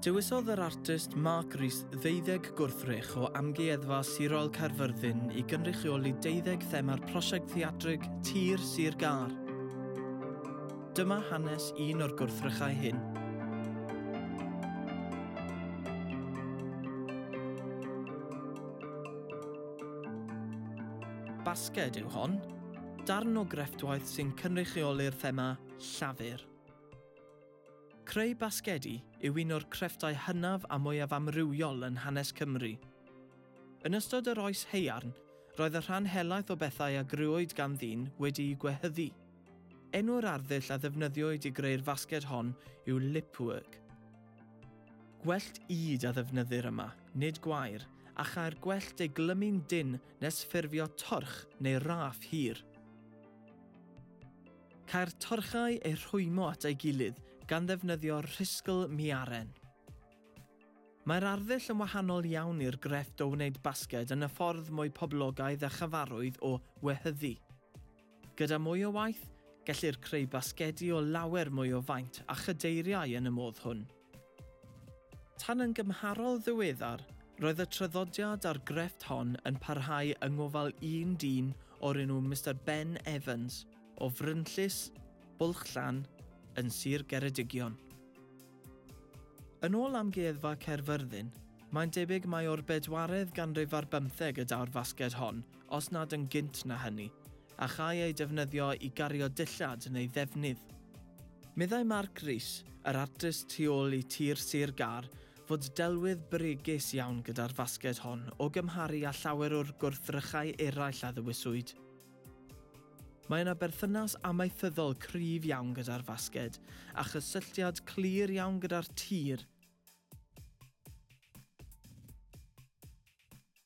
Dewisodd yr artist Mark Rees ddeuddeg gwrthrych o Amgueddfa Sirol Caerfyrddin i gynrychioli deuddeg thema'r prosiect theatrig Tir Sir Gar. Dyma hanes un o'r gwrthrychau hyn. Basged yw hon, darn o grefftwaith sy'n cynrychioli'r thema 'Llafur'. Creu basgedi yw un o'r crefftau hynaf a mwyaf amrywiol yn hanes Cymru. Yn ystod yr Oes Haearn, roedd y rhan helaeth o bethau a grëwyd gan ddyn wedi'u gwehyddu. Enw'r arddull a ddefnyddiwyd i greu'r fasged hon yw lipwork. Gwellt ŷd a ddefnyddir yma, nid gwair, a chae'r gwellt ei glymu'n dynn nes ffurfio torch neu raff hir. Cae'r torchau eu rhwymo at ei gilydd gan ddefnyddio rhisgl miaren. Mae'r arddull yn wahanol iawn i'r grefft o wneud basged yn y ffordd mwy poblogaidd a chyfarwydd o wehyddu. Gyda mwy o waith, gellir creu basgedi o lawer mwy o faint a chadeiriau yn y modd hwn. Tan yn gymharol ddiweddar, roedd y traddodiad a'r grefft hon yn parhau yng ngofal un dyn o'r enw Mister Ben Evans o Frynllys, Bwlch-llan, yn Sir Geredigion. Yn ôl Amgueddfa Caerfyrddin, mae'n debyg mai o'r bedwaredd ganrif ar bymtheg y daw'r fasged hon, os nad yn gynt na hynny, a châi eu defnyddio i gario dillad neu ddefnydd. Meddai Mark Rees, yr artist tu ôl i Tir Sir Gâr, fod delwedd bregus iawn gyda'r fasged hon o gymharu â llawer o'r gwrthrychau eraill a ddewiswyd. Mae yna berthynas amaethyddol cryf iawn gyda'r fasged, a chysylltiad clir iawn gyda'r tir,